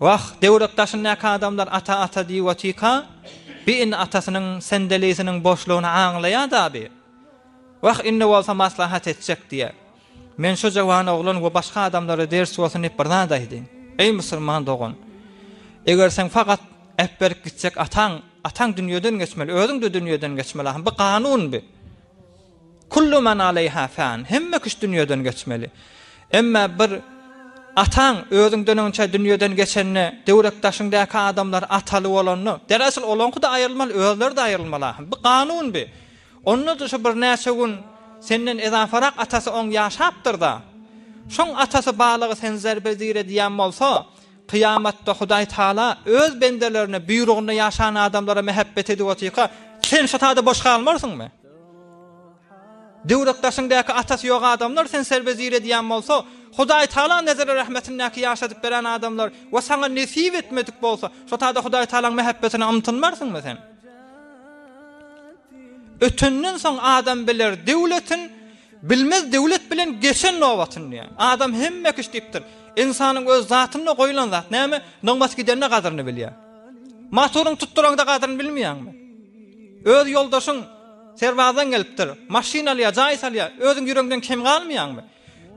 Wah, döwlet daşyndaky adamlar ata ata diýip otyrka, bi indi atasynyň sendelisiniň boşlugyny aňlaýar-da bi. Wah, indi bolsa maslahat etjek diýýär. Men şu jawan oglan we başga adamlara ders bolsun diýip bir zat aýdaýyn. Eý musulman dogan! Eger sen fakat äpberip gitjek ataň, ataň dünýeden geçmeli, özüň-de dünýeden geçmeli ahym. Bu kanun bi. Kullu men aleýha fan, hemme kişi dünýeden geçmeli. Emma bir ataň özüň döneginçä dünýeden geçende, döwrekdaşyňdaky adamlar ataly bolanda, deresil olaňkyda aýrylmaly, özleri-de aýrylmaly ahyryn. Bu kanun bi. Onda-da şu birnäçe gün senden ezafarak atasy oň ýaşapdyr-da. Şoň atasy balygy sen zerbe-zir edýän bolsa, kyýamatda Hudaý Taala öz bendelerine, buýrugynda ýaşan adamlara mähebbet edip otyrka, sen şu taýda boş galmarsyňmy? Döwrekdaşyňdäki atasy ýok adamlar sen serwezir edýän bolsa, Hudaý Tagala nezeri rahmetindäki ýaşadyp beren adamlar we saňa nesip etmedik bolsa, şo taýda Hudaý Tagalaň mähebbetine ymtynmarsyňmy sen? Ötenden soň adam biler döwletin, bilmez döwlet bilen geçen nobatyn diýen. Adam hemme kiş diýipdir. Ynsanyň öz zatynda goýlan zat näme? Nygmat gidende gadyryny bilýär. Motoryň tutduranda gadryny bilmeýäňmi? Öz ýoldaşyň serbazdan gelipdir, maşyn alýar, jaý salýar, özüň ýüregiňden kem galmaýaňmy?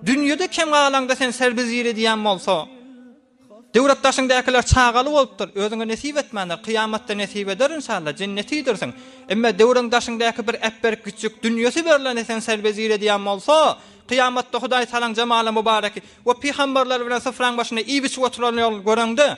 Dünýede kem galaňda sen serbizir edýän bolsa, döwrekdaşyňdakylar çagaly bolupdyr, özüňe nesip etmändir, kyýamatda nesip eder inşallah, jenneti iýdirsin. Emma döwreňdaşyňdaky bir äpberik güjjük, dünýesi berleni sen serbizir edýän bolsa, kyýamatda Hudaý salaň jemaly-mubareki we pygamberler bilen syfraň başynda iýip-içip oturanlaryny göreňde,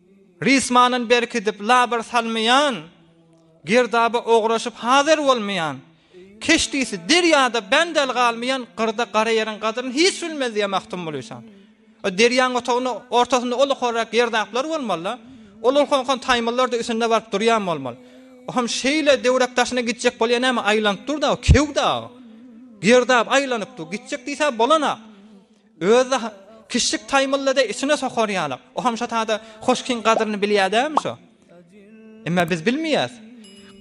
Rysmandan berkidip labyr salmaýan, girdaba ograşyp hazyr bolmaýan, keşdisi derýada bendel galmaýan gyrda gara ýeriň gadryny hiç bilmez diýýär Magtymguly şa. O derýaň otagyny ortasynda uly horrak girdaplar bolmaly-da. Ol ulkan-ulkan taýmyllar-da üstünde baryp durýan bolmaly. O hem şeýle döwrek daşyna gitjek bolýar näme aýlanyp dur-da, kew-de. Girdap aýlanyp dur, gitjek diýse bolana. Öz-de kişlik taýmyllydy, içine sokar ýaly. O hamşatada hoşkiň gadyryny bilýär dälmi şo? Emma biz bilmeýäs.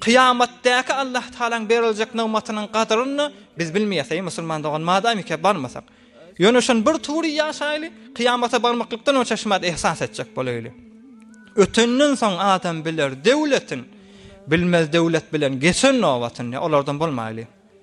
Kyýamatdaky Allah Tagalaň beriljek nygmatynyň gadyryny biz bilmeýäs, eý musulman dogan, madamyka barmasak. Ýöne şony bir tury ýaşaýly, kyýamata barmaklykdan öň şaşmat ihsas etjek bolaýly. Ötenden soň adam biler döwletin, bilmez döwlet bilen geçen nobatyny, olardan bolmaýly.